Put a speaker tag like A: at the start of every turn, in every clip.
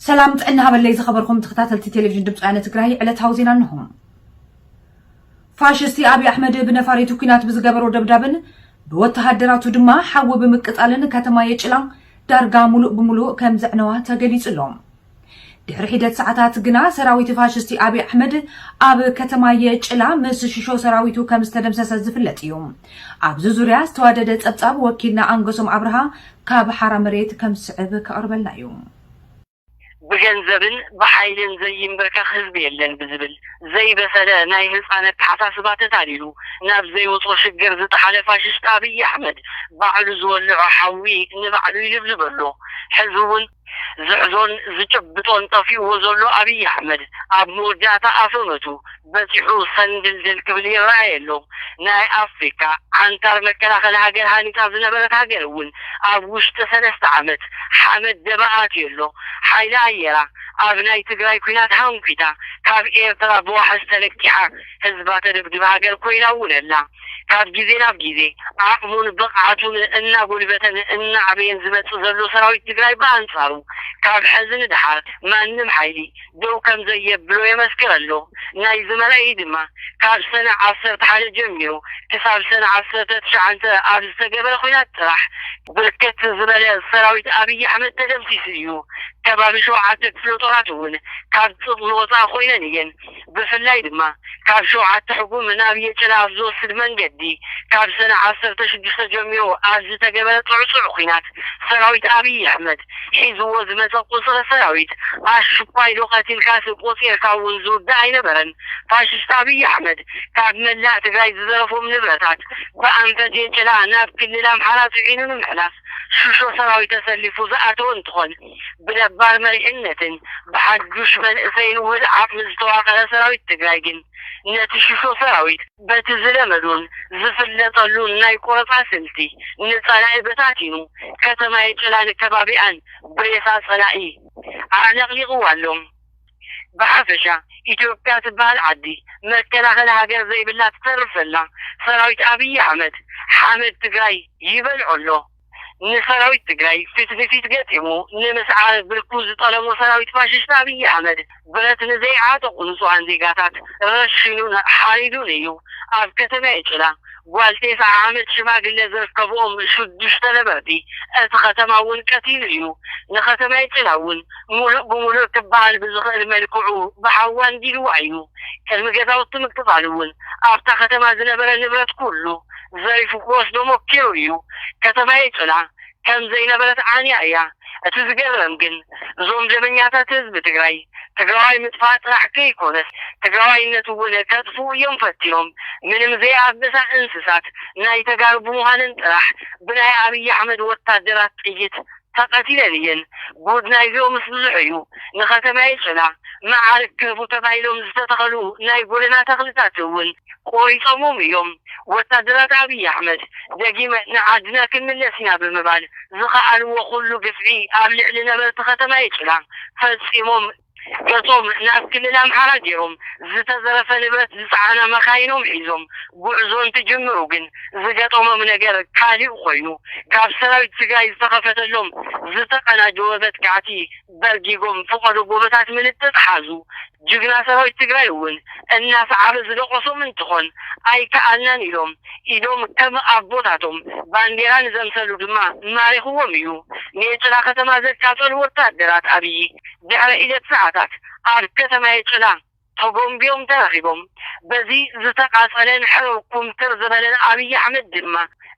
A: ሰላም ጥዕና ሃበለይ ዝኸበርኩም ተኸታተልቲ ቴሌቪዥን ድምፂ ወያነ ትግራይ ዕለታዊ ዜና እንሆ። ፋሽስቲ ኣብዪ ኣሕመድ ብነፋሪቱ ኩናት ብዝገበሮ ደብዳብን ብወተሃደራቱ ድማ ሓዊ ብምቅፃልን ከተማ የጭላ ዳርጋ ሙሉእ ብሙሉእ ከም ዘዕነዋ ተገሊፁ ኣሎ። ድሕሪ ሒደት ሰዓታት ግና ሰራዊት ፋሽስቲ ኣብይ ኣሕመድ ኣብ ከተማ የጭላ ምስ ሽሾ ሰራዊቱ ከም ዝተደምሰሰ ዝፍለጥ እዩ። ኣብዚ ዙርያ ዝተዋደደ ጸብጻብ ወኪልና ኣንገሶም ኣብርሃ ካብ ሓራ መሬት ከም ዝስዕብ ከቕርበልና እዩ።
B: ብገንዘብን ብሓይልን ዘይምብርከኽ ህዝቢ የለን ብዝብል ዘይበሰለ ናይ ህጻን ኣተሓሳስባ ተታሊሉ ናብ ዘይውጾ ሽግር ዝጠሓለ ፋሽስት ኣብይ ኣሕመድ ባዕሉ ዝወለዖ ሓዊ ንባዕሉ ይልብልበሉ ሕዚ ውን ዝሕዞን ዝጭብጦን ጠፊኡዎ ዘሎ ኣብይ ኣሕመድ ኣብ መወዳእታ ኣፈመቱ በጺሑ ሰንድልድል ክብል ይረኣይ ኣሎ። ናይ ኣፍሪካ ዓንታር መከላኸሊ ሃገር ሃኒጻ ዝነበረት ሃገር እውን ኣብ ውሽጢ ሰለስተ ዓመት ሓመድ ደበ ኣትዩ ኣሎ። ሓይሊ ኣየራ ኣብ ናይ ትግራይ ኲናት ሃንኲታ ካብ ኤርትራ ብዋሕስ ተለቂሓ። ህዝባ ተደብድብ ሃገር ኮይና እውን ኣላ። ካብ ግዜ ናብ ግዜ ዓቕሙን ብቕዓቱን እናጎልበተን እናዓበየን ዝመፅእ ዘሎ ሰራዊት ትግራይ ብኣንፃሩ ካብ ሐዚ ንደሓር ማንም ሓይሊ ደው ከምዘየብሎ የመስክር ኣሎ። ናይዚ መርኣዪ ድማ ካብ ሰነ ዓሰርተ ሓደ ጀሚሩ ክሳብ ሰነ ዓሰርተ ትሽዓተ ኣብ ዝተገበረ ኹናት ጥራሕ ብርክት ዝበለ ሰራዊት ኣብይ ኣሕመድ ተደምሲሱ እዩ። ከባቢ ሸውዓተ ክፍለጦራት እውን ካብ ጥቕሚ ወፃኢ ኮይነን እየን። ብፍላይ ድማ ካብ ሸውዓተ ሕጉም ናብ የጭላ ኣብ ዝወስድ መንገዲ ካብ ሰነ ዓሰርተ ሽዱሽተ ጀሚሩ ኣብ ዝተገበረ ጥዕጡዕ ኲናት ሰራዊት ኣብይ ኣሕመድ ሒዝዎ ዝመፀ ቁፅሪ ሰራዊት ኣሽኳይዶ ቀቲልካሲ ቆፂርካ እውን ዝውዳእ ኣይነበረን ፋሽስት ኣብይ ኣሕመድ ካብ መላእ ትግራይ ዝዘረፎም ንብረታት ብኣንፈት የጭላ ናብ ክልል ኣምሓራ ፅዒኑ ንምሕላፍ ሽሾ ሰራዊት ተሰሊፉ ዝኣተወ እንትኾን ብነባር መሪሕነትን ብሓዱሽ መንእሰይን ውህድ ዓቕሚ ዝተዋቐረ ሰራዊት ትግራይ ግን ነቲ ሽሾ ሰራዊት በቲ ዝለመዶን ዝፍለጠሉን ናይ ቆረፃ ስልቲ ንፀላኢ በታቲኑ ከተማ የጨላን ከባቢኣን ብሬሳ ፀላኢ ኣዕለቕሊቕዋ ኣሎ። ብሓፈሻ ኢትዮጵያ ትበሃል ዓዲ መከላኸሊ ሃገር ዘይብላ ትተርፍ ዘላ ሰራዊት ኣብይ ኣሕመድ ሓመድ ትግራይ ይበልዖ ኣሎ። ንሰራዊት ትግራይ ፊት ንፊት ገጢሙ ንምስዓር ብርኩ ዝጠለሞ ሰራዊት ፋሽስት ኣብይ ኣሕመድ ብረት ንዘይዓጠቑ ንፁሃን ዜጋታት ረሺኑን ሓሪዱን እዩ። ኣብ ከተማ የጭላ ጓል ቴስዓ ዓመት ሽማግለ ዝርከብኦም ሽዱሽተ ነበርቲ እቲ ከተማ እውን ቀቲሉ እዩ። ንከተማ የጭላ እውን ሙሉእ ብሙሉእ ክበሃል ብዝኽእል መልክዑ ብሓዊ ኣንዲድዋ እዩ። ቅድሚ ገዛውቲ ምቅፃሉ እውን ኣብታ ከተማ ዝነበረ ንብረት ኩሉ ዘሪፉ ክወስዶሞ ኪኢሉ እዩ ከተማየይ ጽና ከም ዘይነበረት ዓንያ እያ እቲ ዝገርም ግን እዞም ደመኛታት ህዝቢ ትግራይ ትግራዋይ ምጥፋእ ጥራሕ ከይኮነስ ትግራዋይነት እውን ከጥፍኡ እዮም ፈቲኖም ምንም ዘይኣበሳ እንስሳት ናይ ተጋሩ ብምዃንን ጥራሕ ብናይ ኣብይ ኣሕመድ ወታደራት ጥይት ተቀቲለን እየን ጉድ ናይዚኦምስ ብዙሕ እዩ ንከተማ የጨና መዓርግ ክህቡ ተባሂሎም ዝተተኸሉ ናይ ጎደና ተኽልታት እውን ቆሪፆሞም እዮም ወታደራት ኣብይ ኣሕመድ ደጊመን ንዓድና ክንምለስ ኢና ብምባል ዝኸኣልዎ ኩሉ ግፍዒ ኣብ ልዕሊ ነበርቲ ከተማ የጨና ፈፂሞም እቶም ናብ ክልል ኣምሓራ ገይሮም ዝተዘረፈ ንብረት ዝፀዓና መኻይኖም ሒዞም ጉዕዞ እንትጅምሩ ግን ዝገጠሞም ነገር ካሊእ ኾይኑ ካብ ሰራዊት ትግራይ ዝተኸፈተሎም ዝተቀናጀወ መጥቃዕቲ በርጊጎም ፍቀዶ ጎበታት ምልጥጥ ሓዙ ጅግና ሰራዊት ትግራይ እውን እናሰዓበ ዝደቆሶም እንትኾን ኣይከኣልናን ኢሎም ኢዶም ከም ኣቦታቶም ባንዴራ ንዘምሰሉ ድማ ማሪኽዎም እዩ ኔጭራ ከተማ ዘቃፀሉ ወታደራት ኣብይ ድሕሪ ሒደት ሰዓታት ኣብ ከተማ የጭላ ተጎምቢዮም ተረኺቦም። በዚ ዝተቓጸለን ሕርር ኩምትር ዝበለን ኣብይ ኣሕመድ ድማ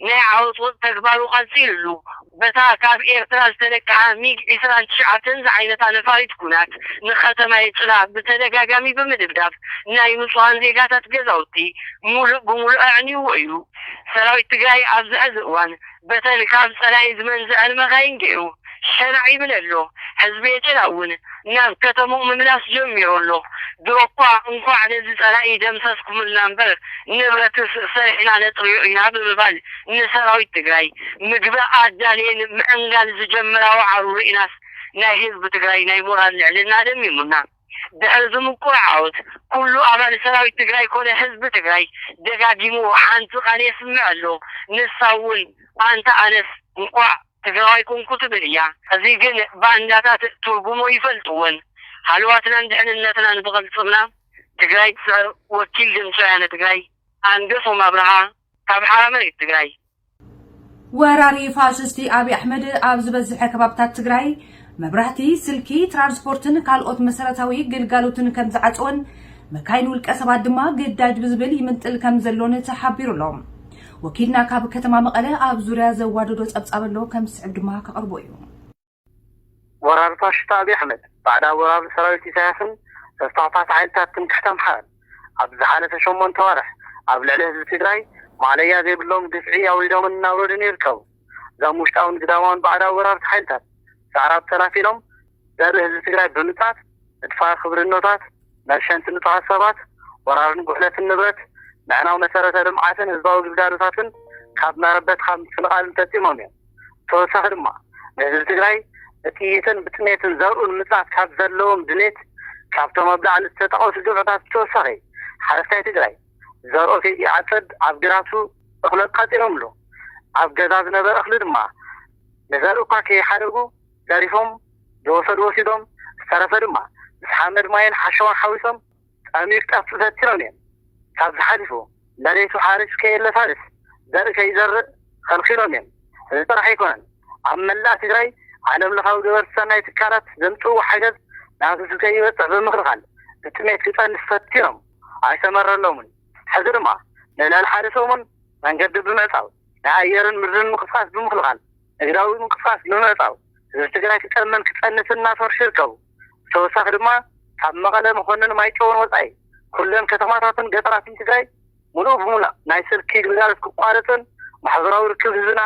B: ናይ ዓወጽወጽ ተግባሩ ቀጺሉሉ በታ ካብ ኤርትራ ዝተለቀሓ ሚግ ዕስራን ትሽዓተን ዝዓይነታ ነፋሪት ኩናት ንከተማ የጭላ ብተደጋጋሚ ብምድብዳብ ናይ ንጹሃን ዜጋታት ገዛውቲ ሙሉእ ብሙሉእ ኣዕንዩዎ እዩ። ሰራዊት ትግራይ ኣብዚ ሕዚ እዋን በተን ካብ ጸላኢ ዝመንዘዐን መካይን ጌሩ ሸናዕ ይብል ኣሎ። ህዝቢ ኤትራ እውን ናብ ከተምኡ ምምላስ ጀሚሩ ኣሎ። ድሮኳ እንኳዕ ነዚ ጸላኢ ደምሰስኩምልና እምበር ንብረትስ ሰሪሕና ነጥርዮ ኢና ብምባል ንሰራዊት ትግራይ ምግቢ ኣዳልየን ምዕንጋል ዝጀመራ ዋዕሮ ሪእናስ ናይ ህዝቢ ትግራይ ናይ ሞራል ልዕልና ደሚሙና ድሕሪ እዚ ምቁር ዓወት ኩሉ ኣባል ሰራዊት ትግራይ ኮነ ህዝቢ ትግራይ ደጋጊሙ ሓንቲ ቃል የስምዕ ኣሎ ንሳ እውን ኣንታ ኣነስ እንኳዕ ትግራዋይ ኮንኩ ትብል እያ። እዚ ግን ባንዳታት ትርጉሙ ኣይፈልጥዎን። ሃለዋትናን ድሕንነትናን ዝቅልፅምና ትግራይ ትስዕር ወኪል ድምፂ ወያነ ትግራይ ኣንገሶም ኣብርሃ ካብ
A: ሓራምረ እዩ ትግራይ። ወራሪ ፋሽስቲ ኣብይ ኣሕመድ ኣብ ዝበዝሐ ከባብታት ትግራይ መብራህቲ፣ ስልኪ፣ ትራንስፖርትን ካልኦት መሰረታዊ ግልጋሎትን ከም ዝዓፀወን መካይን ውልቀ ሰባት ድማ ግዳጅ ብዝብል ይምንጥል ከም ዘሎን ተሓቢሩ ኣሎ። ወኪልና ካብ ከተማ መቐለ ኣብ ዙርያ ዘዋደዶ ፀብፃብ ኣሎ ከም ዝስዕብ ድማ ከቕርቦ እዩ።
B: ወራር ፋሽስት ኣብይ ኣሕመድ፣ ባዕዳዊ ወራር ሰራዊት ኢሳያስን ተስፋፍሓቲ ሓይልታት ትምክሕቲ ኣምሓራን፣ ኣብዚ ዝሓለፈ ሸሞንተ ኣዋርሕ ኣብ ልዕሊ ህዝቢ ትግራይ ማእለያ ዘይብሎም ግፍዒ ኣውሪዶምን እናውረዱን ይርከቡ። እዞም ውሽጣውን ግዳማውን ባዕዳዊ ወራርቲ ሓይልታት፣ ሰዕራብ ተላፊኖም ዘርኢ ህዝቢ ትግራይ ብምጽኣት፣ ምድፋር ክብርኖታት፣ መርሸንቲ ንጹሃት ሰባት፣ ወራርን ጉሕለትን ንብረት፣ ምዕናው መሰረተ ልምዓትን ህዝባዊ ግልጋሎታትን ካብ መረበትካ ምፍንቓልን ፈጺሞም እዮም። ብተወሳኺ ድማ ንህዝቢ ትግራይ ብጥይትን ብጥሜትን ዘርኡ ንምፅናት ካብ ዘለዎም ድሌት ካብቶም ኣብ ላዕሊ ዝተጠቐሱ ግብዕታት ብተወሳኺ ሓረስታይ ትግራይ ዘርኡ ከይዓፅድ ኣብ ግራቱ እኽሊ ቀፂሮምሉ ኣብ ገዛ ዝነበረ እኽሊ ድማ ንዘርኢ እኳ ከይሓደጉ ዘሪፎም ዝወሰዱ ወሲዶም ዝተረፈ ድማ ምስ ሓመድ ማይን ሓሸዋን ሓዊሶም ጣሚርካ ተዘርቲሮም እዮም። ካብዚ ሓሊፉ መሬቱ ሓሪስ ከየለሳልስ ዘርኢ ከይዘርእ ኸልኪሎም እዮም። እዚ ጥራሕ ኣይኮነን፣ ኣብ መላእ ትግራይ ዓለምለኻዊ ገበርቲ ሰናይ ትካላት ዘምፅእዎ ሓገዝ ናብ ህዝቢ ከይበፅሕ ብምኽልኻል ብጥሜት ክፀንት ፈቲኖም ኣይሰመረሎምን። ሕዚ ድማ ንልዕሊ ሓደ ሰሙን መንገዲ ብምዕፃው ናይ ኣየርን ምድርን ምንቅስቓስ ብምኽልኻል፣ ንግዳዊ ምንቅስቓስ ብምዕፃው ህዝቢ ትግራይ ክጠምን ክፀንትን እናሰርሑ ይርከቡ። ብተወሳኺ ድማ ካብ መቐለ፣ መኾንን፣ ማይጨውን ወፃኢ ኩለን ከተማታትን ገጠራትን ትግራይ ሙሉእ ብሙላእ ናይ ስልኪ ግልጋሎት ክቋረፅን ማሕበራዊ ርክብ ህዝብና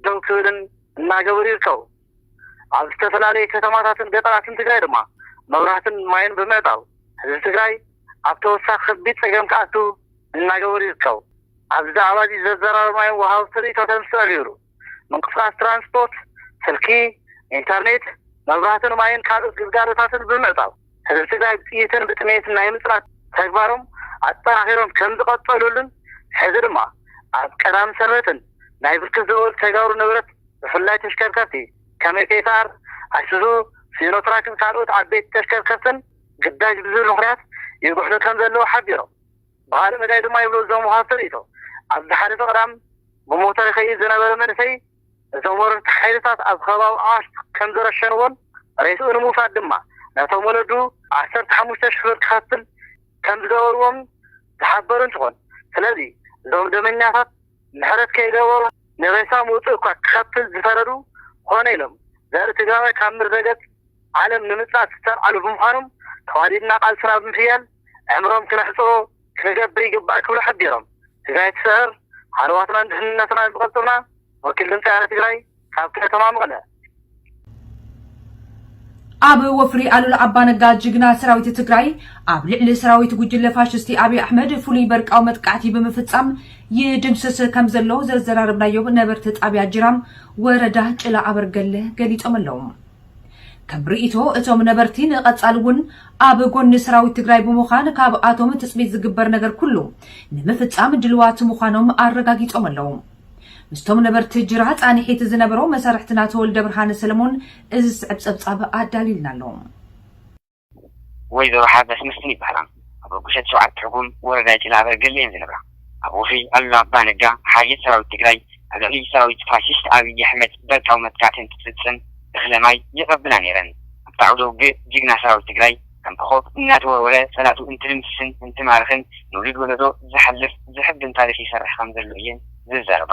B: ደው ክብልን እናገበሩ ይርከቡ። ኣብ ዝተፈላለዩ ከተማታትን ገጠራትን ትግራይ ድማ መብራህትን ማይን ብምዕፃው ህዝቢ ትግራይ ኣብ ተወሳኺ ከቢድ ፀገም ክኣቱ እናገበሩ ይርከቡ። ኣብዚ ዛዕባ እዚ ዘዘራረብናዮም ወሃብቲ ርኢቶተን ዝተቐየሩ ምንቅስቓስ ትራንስፖርት፣ ስልኪ፣ ኢንተርኔት፣ መብራህትን ማይን ካልኦት ግልጋሎታትን ብምዕፃው ህዝቢ ትግራይ ብጥይትን ብጥሜትን ናይ ምፅናት ተግባሮም ኣጠናኺሮም ከምዝቐፀሉሉን ሕዚ ድማ ኣብ ቀዳምን ሰንበትን ናይ ብርክት ዝበሉ ተጋሩ ንብረት ብፍላይ ተሽከርከርቲ ከም ኤፌሳር፣ ኣይሱዙ፣ ሲኖትራክን ካልኦት ዓበይቲ ተሽከርከርትን ግዳጅ ብዝብል ምኽንያት ይጉሕሉ ከምዘለዉ ሓቢሮም። ብኻልእ መዳይ ድማ ይብሉ እዞም ወሃብቲ ርእይቶ፣ ኣብ ዝሓለፈ ቀዳም ብሞተር ይኸይድ ዝነበረ መንእሰይ እቶም ወረርቲ ሓይልታት ኣብ ከባቢ ኣዋሽ ከምዝረሸንዎን ሬስኡ ንምውሳድ ድማ ነቶም ወለዱ ዓሰርተ ሓሙሽተ ሽሕ ብር ክኸፍል ከምዝገበርዎምን ዝሓበሩ እንትኾን ስለዚ እዞም ደመኛታት ምሕረት ከይገበሩ ንሬሳ ምውፅእ እኳ ክኸፍል ዝፈረዱ ኮነ ኢሎም ዘርኢ ትግራዋይ ካብ ምድረገፅ ዓለም ንምፅናት ዝተልዓሉ ብምዃኖም ተዋዲድና ቃልስና ብምሕያል ዕምሮም ክነሕጽሮ ክንገብር ይግባእ ክብሉ ሓቢሮም። ትግራይ ትስዕር፣ ሃለዋትናን ድሕንነትናን ዝቐልጥፍና ወኪል ድምጺ ኣረ ትግራይ ካብ ከተማ መቐለ።
A: ኣብ ወፍሪ ኣሉላ ኣባነጋ ጅግና ሰራዊት ትግራይ ኣብ ልዕሊ ሰራዊት ጉጅለ ፋሽስቲ ኣብይ ኣሕመድ ፍሉይ በርቃዊ መጥቃዕቲ ብምፍጻም ይድምስስ ከም ዘሎ ዘዘራረብናዮም ነበርቲ ጣብያ ጅራም ወረዳ ጭላ ኣበርገለ ገሊጾም ኣለዉ። ከም ርኢቶ እቶም ነበርቲ ንቐፃሊ እውን ኣብ ጎኒ ሰራዊት ትግራይ ብምዃን ካብኣቶም ትፅቢት ዝግበር ነገር ኩሉ ንምፍፃም ድልዋት ምዃኖም ኣረጋጊፆም ኣለው። ምስቶም ነበርቲ ጅራ ፃንሒት ዝነበሮ መሳርሕትና ተወልደብርሃን ሰለሞን እዚ ዝስዕብ ፀብፃብ ኣዳሊልና ኣሎ።
B: ወይዘሮ ሓበስ መስፍን ይበሃላ። ኣብ ኣጉሸት ሸውዓተ ትርጉም ወረዳ ጭላ ኣበርገለ እየን ዝነብራ። ኣብ ወፍሪ ኣሉላ ኣባነጋ ሓይልት ሰራዊት ትግራይ ኣብ ልዕሊ ሰራዊት ፋሽስት ኣብይ ኣሕመድ በርቃዊ መጥቃዕቲ እንትፍፅም እኽለ ማይ ይቐብላ ነይረን። ኣብቲ ዓውደ ውግእ ጅግና ሰራዊት ትግራይ ከም ኮኾብ እናተወርወረ ፀላእቱ እንትድምስስን እንትማርኽን ንውሉድ ወለዶ ዝሓልፍ ዘሕብን ታሪኽ ይሰርሕ ከምዘሎ እየን ዝዛረባ።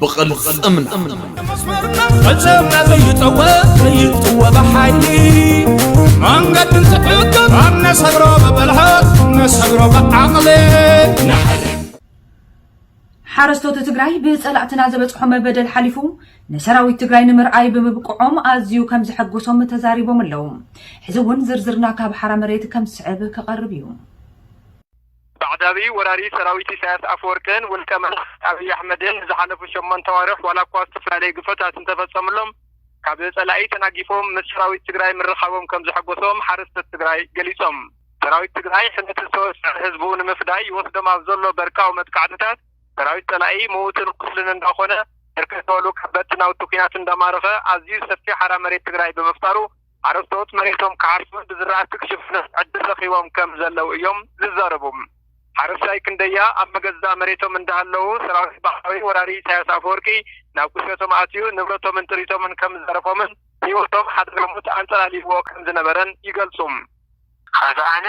C: ብቕልፅምና
D: ፈፀምና ዘይጠወ ዘይጥወ ብሓይሊ መንገዲ ዝሕግም ኣብ ነሰግሮ ብብልሓት ነሰግሮ ብዓቕሊ
A: ሓረስቶት ትግራይ ብፀላእትና ዘበፅሖም በደል ሓሊፉ ንሰራዊት ትግራይ ንምርኣይ ብምብቅዖም ኣዝዩ ከም ዘሐጎሶም ተዛሪቦም ኣለዉ። ሕዚ እውን ዝርዝርና ካብ ሓራ መሬት ከም ዝስዕብ
E: ክቐርብ
A: እዩ። ባዕዳዊ
E: ወራሪ ሰራዊት ኢሳያስ ኣፈወርቅን ውልቀ መላኺ ኣብይ ኣሕመድን ንዝሓለፉ ሸሞንተ ኣዋርሕ ዋላ እኳ ዝተፈላለዩ ግፍዕታት እንተፈፀምሎም ካብ ፀላኢ ተናጊፎም ምስ ሰራዊት ትግራይ ምርኻቦም ከምዘሐጎሶም ሓረስቶት ትግራይ ገሊፆም። ሰራዊት ትግራይ ሕምየትን ሰወስዐን ህዝቡ ንምፍዳይ ይወስዶም ኣብ ዘሎ በርቃዊ መጥቃዕትታት ሰራዊት ፀላኢ ምዉትን ቁስልን እንዳኾነ ብርክት ዝበሉ ከበድቲ ናውቲ ኲናት እንዳማረኸ ኣዝዩ ሰፊሕ ሓራ መሬት ትግራይ ብምፍጣሩ ሓረስቶት መሬቶም ክሓርሱን ብዝራእቲ ክሽፍኑን ዕድል ረኺቦም ከም ዘለዉ እዮም ዝዛረቡ። ሓረስታይ ክንደያ ኣብ መገዛእ መሬቶም እንዳሃለዉ ሰራዊት ባዕዳዊ ወራሪ ኢሳያስ ኣፈወርቂ ናብ ቁሸቶም ኣትዩ ንብረቶምን ጥሪቶምን ከም ዝዘረፎምን ህይወቶም ሓደጋ ሞት ኣንጸላልይዎ ከም ዝነበረን ይገልጹ። ኸዚ
B: ኣነ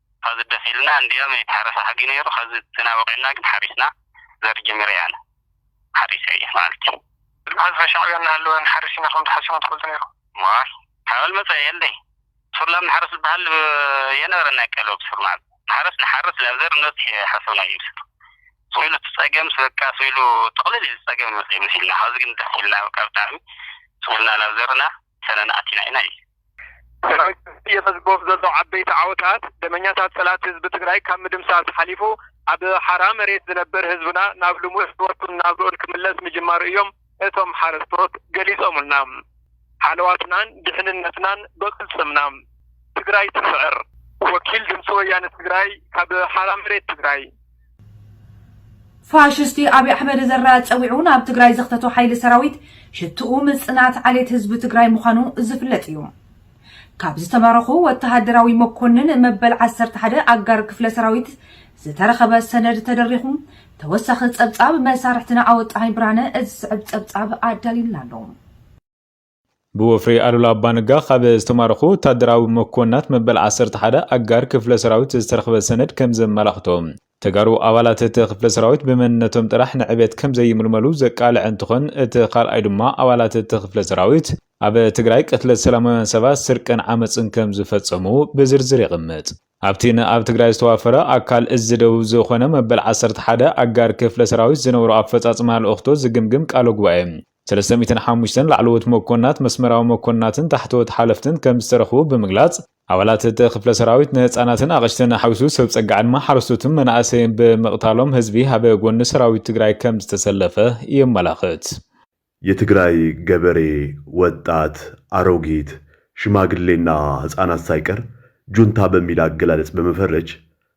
B: ሀዚ ደስ ኢሉና እንድያም ኣይተሐረሰ ሐጊ ነይሩ ሀዚ ተናብቂዕና ግን ሐሪስና ዘርኢ ጀሚረ ኣነ ሐሪሰ እየ መኣልቲ ሀዚ ሻዕብያ
E: እናሀለወ ንሐርስ ኢና ከምቲ ሐሲቦም ትፈልጡ ነይሩ። ዋይ ሓበል
B: መጸ የለይ ሱር ላም ንሓርስ ዝበሃል የነበረን ናይ ቀልቢ ብሱር ማዕዝ ንሓረስ ንሓርስ ላብ ዘር ንበጽሕ ሓሰብናዮ ብሱር ስቁኢሉ እቲ ጸገምስ በቃ ስቁኢሉ ጥቕልል ኢሉ ጸገም ይመጽእ መሲልና ሐዚ ግን ደስ ኢልና በቃ ብጣዕሚ ስቁልና ላብ ዘርና ሰነና ኣቲና ኢና ኢሉ። ሰራዊት ህዝቢ የመዝግቦም
E: ዘሎ ዓበይቲ ዓወታት፣ ደመኛታት ፀላእቲ ህዝቢ ትግራይ ካብ ምድምሳስ ሓሊፉ ኣብ ሓራ መሬት ዝነብር ህዝብና ናብ ልሙዕ ህይወቱን ናብርኡን ክምለስ ምጅማሩ እዮም እቶም ሓረስቶት ገሊፆምልና። ሓለዋትናን ድሕንነትናን ብቕልፅምና! ትግራይ ትስዕር! ወኪል ድምፂ ወያነ ትግራይ ካብ ሓራ መሬት ትግራይ።
A: ፋሽስቲ ኣብይ ኣሕመድ ዘራ ኣፀዊዑ ናብ ትግራይ ዘኽተቶ ሓይሊ ሰራዊት ሽትኡ ምፅናት ዓሌት ህዝቢ ትግራይ ምዃኑ ዝፍለጥ እዩ። ካብ ዝተማረኹ ወተሃደራዊ መኮንን መበል ዓሰርተ ሓደ ኣጋር ክፍለ ሰራዊት ዝተረኸበ ሰነድ ተደሪኹ ተወሳኺ ፀብፃብ መሳርሕትና ኣወጣሃኝ ብርሃነ እዚ ዝስዕብ ፀብፃብ ኣዳልዩልና ኣሎ። ብወፍሪ
F: ኣሉላ ኣባነጋ ካብ ዝተማረኹ ወታደራዊ መኮንናት መበል ዓሰርተ ሓደ ኣጋር ክፍለ ሰራዊት ዝተረኽበ ሰነድ ከም ዘመላኽቶ፣ ተጋሩ ኣባላት እቲ ክፍለ ሰራዊት ብመንነቶም ጥራሕ ንዕቤት ከም ዘይምልመሉ ዘቃልዐ እንትኾን፣ እቲ ካልኣይ ድማ ኣባላት እቲ ክፍለ ሰራዊት ኣብ ትግራይ ቅትለት ሰላማውያን ሰባት፣ ስርቅን ዓመፅን ከም ዝፈፀሙ ብዝርዝር የቕምጥ። ኣብቲ ንኣብ ትግራይ ዝተዋፈረ ኣካል እዝ ደቡብ ዝኾነ መበል ዓሰርተ ሓደ ኣጋር ክፍለ ሰራዊት ዝነበሮ ኣፈፃፅማ ልኡኽቶ ዝግምግም ቃለ ጉባኤ ሰለስተ ሚእትን ሓሙሽተን ላዕለዎት መኮንናት፣ መስመራዊ መኮንናትን ታሕተዎት ሓለፍትን ከምዝተረኽቡ ብምግላፅ፣ ኣባላት እቲ ክፍለ ሰራዊት ንህፃናትን ኣቕሽትን ሓዊሱ ሰብ ፀጋ ዕድመ ሓረስቶትን መናእሰይን ብምቕታሎም ህዝቢ ኣብ ጎኒ ሰራዊት ትግራይ ከምዝተሰለፈ የመላኽት።
G: የትግራይ ገበሬ፣ ወጣት፣ ኣሮጊት፣ ሽማግሌና ህፃናት ሳይቀር ጁንታ በሚል ኣገላለፅ በመፈረጅ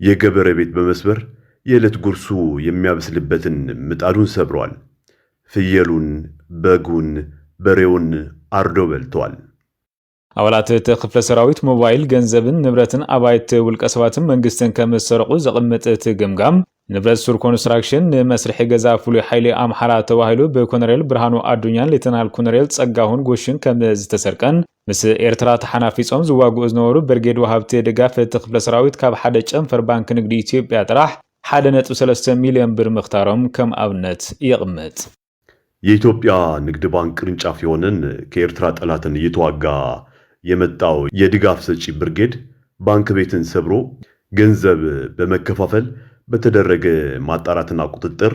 G: የገበረ ቤት በመስበር የእለት ጉርሱ የሚያበስልበትን ምጣዱን ሰብረዋል። ፍየሉን፣ በጉን፣ በሬውን ኣርዶ በልተዋል። ኣባላት
F: እቲ ክፍለ ሰራዊት ሞባይል፣ ገንዘብን ንብረትን ኣባይቲ ውልቀሰባትን መንግስትን ከምዝሰረቑ ዘቕምጥ እቲ ገምጋም፣ ንብረት ሱር ኮንስትራክሽን፣ ንመስርሒ ገዛ ፍሉይ ሓይሊ ኣምሓራ ተባሂሉ ብኮነሬል ብርሃኑ ኣዱኛን ሌተናል ኮነሬል ፀጋሁን ጎሽን ከምዝተሰርቀን ምስ ኤርትራ ተሓናፊጾም ዝዋግኡ ዝነበሩ ብርጌድ ወሃብቲ ድጋፍ እቲ ክፍለ ሰራዊት ካብ ሓደ ጨንፈር ባንኪ ንግዲ ኢትዮጵያ ጥራሕ ሓደ ነጥቢ ሰለስተ ሚልዮን ብር ምኽታሮም ከም ኣብነት የቕምጥ። የኢትዮጵያ
G: ንግድ ባንክ ቅርንጫፍ የሆነን ከኤርትራ ጠላትን እየተዋጋ የመጣው የድጋፍ ሰጪ ብርጌድ ባንክ ቤትን ሰብሮ ገንዘብ በመከፋፈል በተደረገ ማጣራትና ቁጥጥር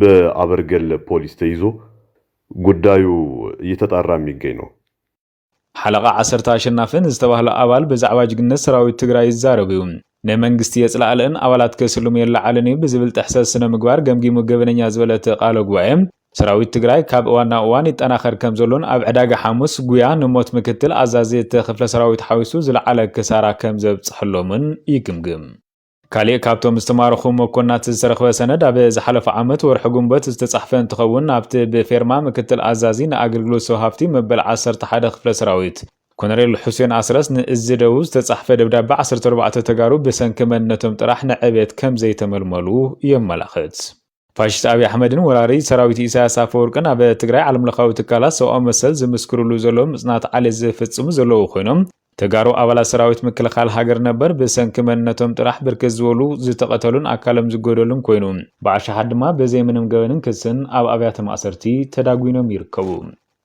G: በኣበርገለ ፖሊስ ተይዞ ጉዳዩ እየተጣራ የሚገኝ ነው። ሓለቓ
F: ዓሰርተ ኣሸናፊ ንዝተባህለ ኣባል ብዛዕባ ጅግንነት ሰራዊት ትግራይ ይዛረብ እዩ። ንመንግስቲ የፅላእልእን ኣባላት ከስልሙ የለዓዕልን እዩ ብዝብል ጥሕሰት ስነ-ምግባር ገምጊሙ ገበነኛ ዝበለ እቲ ቃለ ጉባኤ፣ ሰራዊት ትግራይ ካብ እዋን ናብ እዋን ይጠናኸር ከምዘሎን ኣብ ዕዳጋ ሓሙስ ጉያ ንሞት ምክትል ኣዛዚ እቲ ክፍለ ሰራዊት ሓዊሱ ዝለዓለ ክሳራ ከምዘብፀሐሎምን ይግምግም። ካሊእ ካብቶም ዝተማረኹ መኮንናት ዝተረኽበ ሰነድ ኣብ ዝሓለፈ ዓመት ወርሒ ግንቦት ዝተፃሕፈ እንትኸውን ኣብቲ ብፌርማ ምክትል ኣዛዚ ንኣገልግሎት ሰብ ሃፍቲ መበል ዓሰርተ ሓደ ክፍለ ሰራዊት ኮነሬል ሑሴን ኣስረስ ንእዝ ደቡብ ዝተፃሕፈ ደብዳበ ዓሰርተ ኣርባዕተ ተጋሩ ብሰንኪ መንነቶም ጥራሕ ንዕብየት ከምዘይተመልመሉ የመላኽት። ፋሽስት ኣብይ ኣሕመድን ወራሪ ሰራዊት ኢሳያስ ኣፈወርቅን ኣብ ትግራይ ዓለም ለኻዊ ትካላት ሰብኣዊ መሰል ዝምስክርሉ ዘለዉ ምፅናት ዓሌት ዝፍፅሙ ዘለዉ ኮይኖም ተጋሩ ኣባላት ሰራዊት ምክልኻል ሃገር ነበር ብሰንኪ መንነቶም ጥራሕ ብርክት ዝበሉ ዝተቐተሉን ኣካሎም ዝጎደሉን ኮይኑ ብኣሽሓት ድማ ብዘይ ምንም ገበንን ክስን ኣብ ኣብያተ ማእሰርቲ ተዳጒኖም ይርከቡ።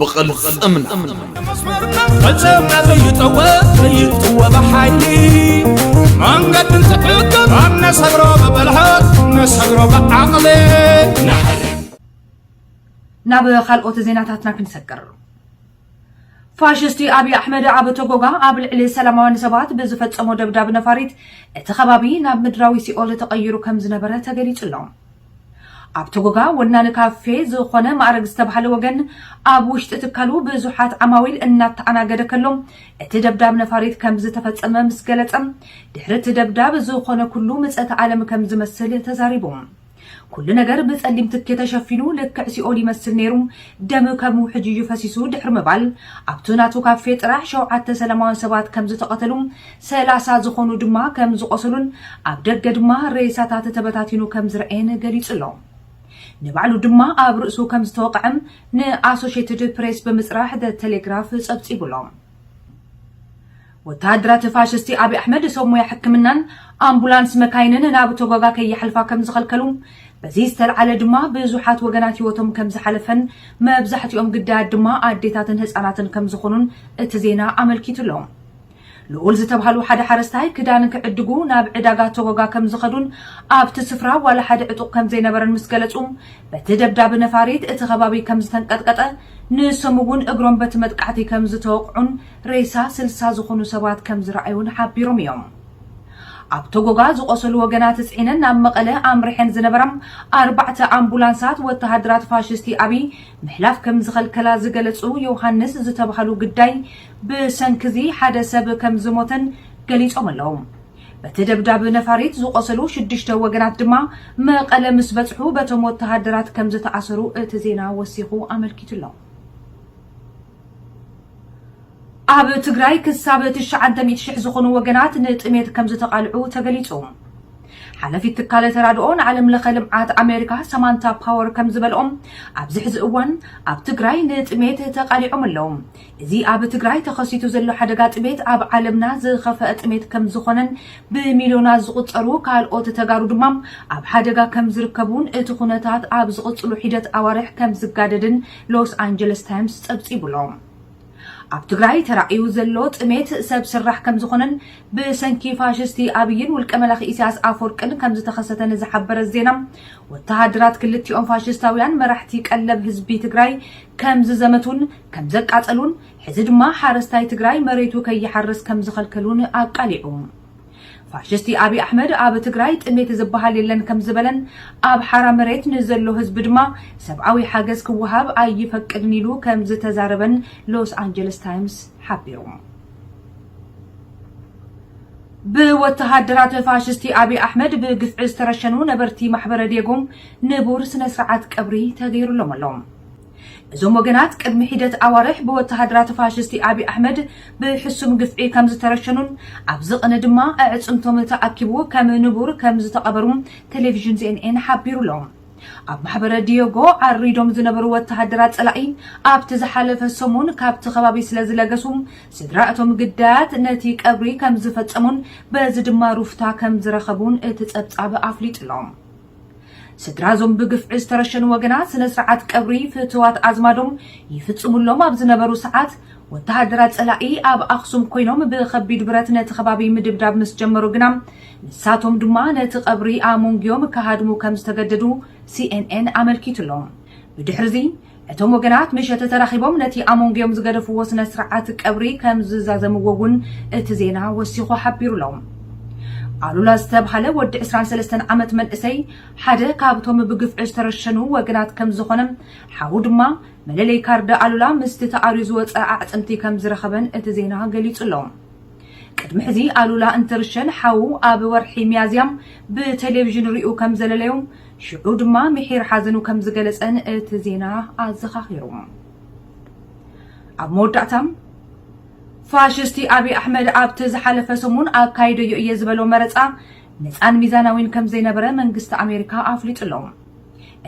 C: ብቕልፅምና
D: ፈፀምና ዘይጠወ ዘይጥወ ብሓይሊ መንገዲ እንትሕግር ኣብ ነሰግሮ ብብልሃት ነሰግሮ ብዓቕሊ
A: ናብ ካልኦት ዜናታትና ክንሰግር ፋሽስቲ ኣብዪ ኣሕመድ ኣብ ቶጎጋ ኣብ ልዕሊ ሰላማውያን ሰባት ብዝፈጸሞ ደብዳብ ነፋሪት እቲ ከባቢ ናብ ምድራዊ ሲኦል ተቐይሩ ከም ዝነበረ ተገሊጹ ኣሎ ኣብ ቶጎጋ ወናኒ ካፌ ዝኾነ ማእረግ ዝተብሃለ ወገን ኣብ ውሽጢ ትካሉ ብዙሓት ዓማዊል እናተኣናገደ ከሎ እቲ ደብዳብ ነፋሪት ከምዝተፈፀመ ምስ ገለፀ ድሕሪ እቲ ደብዳብ ዝኾነ ኩሉ ምፀተ ኣለም ከምዝመስል ተዛሪቡ። ኩሉ ነገር ብፀሊም ትኪ ተሸፊኑ ልክዕ ሲኦል ይመስል ነይሩ ደም ከም ውሕጅ እዩ ፈሲሱ ድሕሪ ምባል ኣብቱ ናቱ ካፌ ጥራሕ ሸውዓተ ሰላማውያን ሰባት ከምዝተቐተሉ ሰላሳ ዝኾኑ ድማ ከም ዝቖሰሉን ኣብ ደገ ድማ ሬሳታት ተበታቲኑ ከም ዝረኣየን ገሊጹ'ሎ። ንባዕሉ ድማ ኣብ ርእሱ ከም ዝተወቕዐም ንኣሶሼትድ ፕሬስ ብምጽራሕ The Telegraph ጸብጺቡ'ሎ። ወተሃደራት ፋሽስቲ ኣብይ ኣሕመድ ሰብ ሞያ ሕክምናን ኣምቡላንስ መካይንን ናብ ቶጎጋ ከይሓልፋ ከም ዝኸልከሉ፣ በዚ ዝተልዓለ ድማ ብዙሓት ወገናት ህይወቶም ከም ዝሓለፈን መብዛሕትኦም ግዳያት ድማ ኣዴታትን ህጻናትን ከም ዝኾኑን እቲ ዜና ኣመልኪቱ'ሎ። ልኡል ዝተብሃሉ ሓደ ሓረስታይ ክዳን ክዕድጉ ናብ ዕዳጋ ቶጎጋ ከም ዝኸዱን ኣብቲ ስፍራ ዋላ ሓደ ዕጡቕ ከም ዘይነበረን ምስ ገለጹ፣ በቲ ደብዳብ ነፋሪት እቲ ከባቢ ከም ዝተንቀጥቀጠ፣ ንሶም እውን እግሮም በቲ መጥቃዕቲ ከም ዝተወቕዑን ሬሳ ስልሳ ዝኹኑ ሰባት ከም ዝረኣዩን ሓቢሮም እዮም። ኣብ ቶጎጋ ዝቖሰሉ ወገናት ጽዒነን ናብ መቐለ ኣምሪሐን ዝነበራ ኣርባዕተ ኣምቡላንሳት ወተሃደራት ፋሽስቲ ኣብይ ምሕላፍ ከም ዝኸልከላ ዝገለጹ ዮውሃንስ ዝተብሃሉ ግዳይ ብሰንኪ'ዚ ሓደ ሰብ ከም ዝሞተን ገሊጾም ኣለዉ። በቲ ደብዳብ ነፋሪት ዝቖሰሉ ሽዱሽተ ወገናት ድማ መቐለ ምስ በጽሑ በቶም ወተሃደራት ከም ዝተኣሰሩ እቲ ዜና ወሲኹ ኣመልኪቱ ኣሎ። ኣብ ትግራይ ክሳብ ትሽዓንተ ሚእቲ ሽሕ ዝኾኑ ወገናት ንጥሜት ከም ዝተቓልዑ ተገሊጹ። ሓለፊት ትካለ ተራድኦ ንዓለም ለኸ ልምዓት ኣሜሪካ ሰማንታ ፓወር ከም ዝበልኦም ኣብዚ ሕዚ እዋን ኣብ ትግራይ ንጥሜት ተቓሊዖም ኣለዉ። እዚ ኣብ ትግራይ ተኸሲቱ ዘሎ ሓደጋ ጥሜት ኣብ ዓለምና ዝኸፈኣ ጥሜት ከምዝኾነን ብሚልዮናት ዝቑፀሩ ካልኦት ተጋሩ ድማ ኣብ ሓደጋ ከምዝርከቡን እቲ ኩነታት ኣብ ዝቕፅሉ ሒደት ኣዋርሕ ከምዝጋደድን ሎስ ኣንጀለስ ታይምስ ፀብፂቡ ኣሎ። ኣብ ትግራይ ተራእዩ ዘሎ ጥሜት ሰብ ስራሕ ከምዝኾነን ብሰንኪ ፋሽስቲ ኣብይን ውልቀ መላኺ ኢሳያስ ኣፈወርቅን ከምዝተኸሰተን ዝሓበረ ዜና ወተሃደራት ክልቲኦም ፋሽስታውያን መራሕቲ ቀለብ ህዝቢ ትግራይ ከምዝዘመቱን ከምዘቃፀሉን ሕዚ ድማ ሓረስታይ ትግራይ መሬቱ ከይሓርስ ከምዝኸልከሉን ኣቃሊዑ። ፋሽስቲ ኣብይ ኣሕመድ ኣብ ትግራይ ጥሜት ዝበሃል የለን ከምዝበለን ኣብ ሓራ መሬት ንዘሎ ህዝቢ ድማ ሰብኣዊ ሓገዝ ክወሃብ ኣይፈቅድን ኢሉ ከምዝተዛረበን ሎስ ኣንጀለስ ታይምስ ሓቢሩ። ብወተሃደራት ፋሽስቲ ኣብይ ኣሕመድ ብግፍዒ ዝተረሸኑ ነበርቲ ማሕበረ ዴጎ ንቡር ስነ ስርዓት ቀብሪ ተገይሩሎም ኣሎ። እዞም ወገናት ቅድሚ ሒደት ኣዋርሕ ብወተሃደራት ፋሽስቲ ኣብይ ኣሕመድ ብሕሱም ግፍዒ ከም ዝተረሸኑን ኣብዚ ቕኒ ድማ ኣዕፅምቶም ተኣኪቡ ከም ንቡር ከም ዝተቐበሩ ቴሌቪዥን ሲኤንኤን ሓቢሩ ኣሎ። ኣብ ማሕበረ ዲዮጎ ዓሪዶም ዝነበሩ ወተሃደራት ፀላኢ ኣብቲ ዝሓለፈ ሰሙን ካብቲ ከባቢ ስለ ዝለገሱ ስድራ እቶም ግዳያት ነቲ ቀብሪ ከም ዝፈፀሙን በዚ ድማ ሩፍታ ከም ዝረኸቡን እቲ ፀብፃብ ኣፍሊጡ ኣሎ። ስድራ እዞም ብግፍዒ ዝተረሸኑ ወገናት ስነ ስርዓት ቀብሪ ፍትዋት ኣዝማዶም ይፍፅሙሎም ኣብ ዝነበሩ ሰዓት ወተሃደራት ፀላኢ ኣብ ኣኽሱም ኮይኖም ብኸቢድ ብረት ነቲ ከባቢ ምድብዳብ ምስ ጀመሩ ግና ንሳቶም ድማ ነቲ ቀብሪ ኣሞንጊዮም ክሃድሙ ከም ዝተገደዱ ሲኤንኤን ኣመልኪቱ ኣሎ። ብድሕሪ እዚ እቶም ወገናት ምሸት ተራኺቦም ነቲ ኣብ መንጎኦም ዝገደፍዎ ስነ ስርዓት ቀብሪ ከም ዝዛዘምዎ እውን እቲ ዜና ወሲኹ ሓቢሩ ኣሎ። ኣሉላ ዝተብሃለ ወዲ ዕስራን ሰለስተን ዓመት መንእሰይ ሓደ ካብቶም ብግፍዒ ዝተረሸኑ ወገናት ከም ዝኾነ ሓዉ ድማ መለለዪ ካርድ ኣሉላ ምስቲ ተኣርዩ ዝወፀ ኣዕፅምቲ ከም ዝረኸበን እቲ ዜና ገሊፁ ኣሎ። ቅድሚ ሕዚ ኣሉላ እንትርሸን ሓዉ ኣብ ወርሒ ሚያዝያ ብቴሌቪዥን ሪኡ ከም ዘለለዮም ሽዑ ድማ ምሒር ሓዘኑ ከም ዝገለጸን እቲ ዜና ኣዘኻኺሩ። ኣብ መወዳእታ ፋሽስቲ ኣብይ ኣሕመድ ኣብቲ ዝሓለፈ ሰሙን ኣካይደዮ እየ ዝበሎ መረጻ ነፃን ሚዛናዊን ከም ዘይነበረ መንግስቲ ኣሜሪካ ኣፍሊጡ ኣሎ።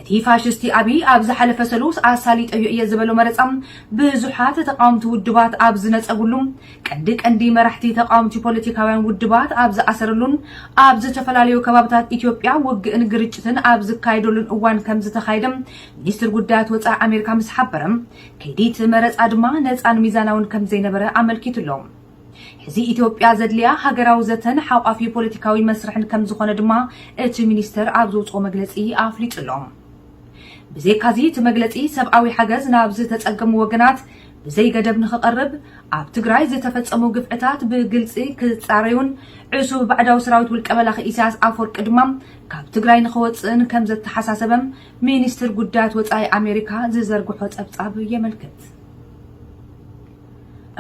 A: እቲ ፋሽስቲ ኣብይ ኣብ ዝሓለፈ ሰሉስ ኣሳሊጠዮ እየ ዝበሎ መረፃ ብዙሓት ተቃወምቲ ውድባት ኣብ ዝነፀግሉ፣ ቀንዲ ቀንዲ መራሕቲ ተቃወምቲ ፖለቲካውያን ውድባት ኣብ ዝኣሰረሉን ኣብ ዝተፈላለዩ ከባብታት ኢትዮጵያ ውግእን ግርጭትን ኣብ ዝካየደሉን እዋን ከምዝተኻየደ ሚኒስትር ጉዳያት ወፃኢ ኣሜሪካ ምስ ሓበረ ከይዲ እቲ መረፃ ድማ ነፃን ሚዛናውን ከምዘይነበረ ኣመልኪቱ ኣሎ። ሕዚ ኢትዮጵያ ዘድልያ ሃገራዊ ዘተን ሓቋፊ ፖለቲካዊ መስርሕን ከምዝኾነ ድማ እቲ ሚኒስተር ኣብ ዘውጽኦ መግለጺ ኣፍሊጡ ኣሎ። ብዘይካዚ እቲ መግለጺ ሰብኣዊ ሓገዝ ናብ ዝተጸገሙ ወገናት ብዘይገደብ ንኽቐርብ፣ ኣብ ትግራይ ዝተፈጸሙ ግፍዕታት ብግልጺ ክጻረዩን ዕሱብ ባዕዳዊ ሰራዊት ውልቀመላኺ ኢሳያስ ኣፍወርቂ ድማ ካብ ትግራይ ንኽወጽእን ከምዘተሓሳሰበ ሚኒስትር ጉዳያት ወጻኢ ኣሜሪካ ዝዘርግሖ ጸብጻብ የመልክት።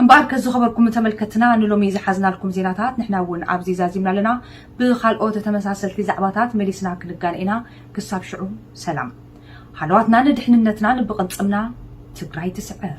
A: እምበኣርከ ዝኸበርኩም ተመልከትትና ንሎሚ ዝሓዝናልኩም ዜናታት ንሕና እውን ኣብዚ ዛዚምና ኣለና። ብኻልኦት ተመሳሰልቲ ዛዕባታት መሊስና ክንጋነ ኢና። ክሳብ ሽዑ ሰላም። ሃለዋትናን ድሕንነትናን ብቕልጽምና! ትግራይ ትስዕር!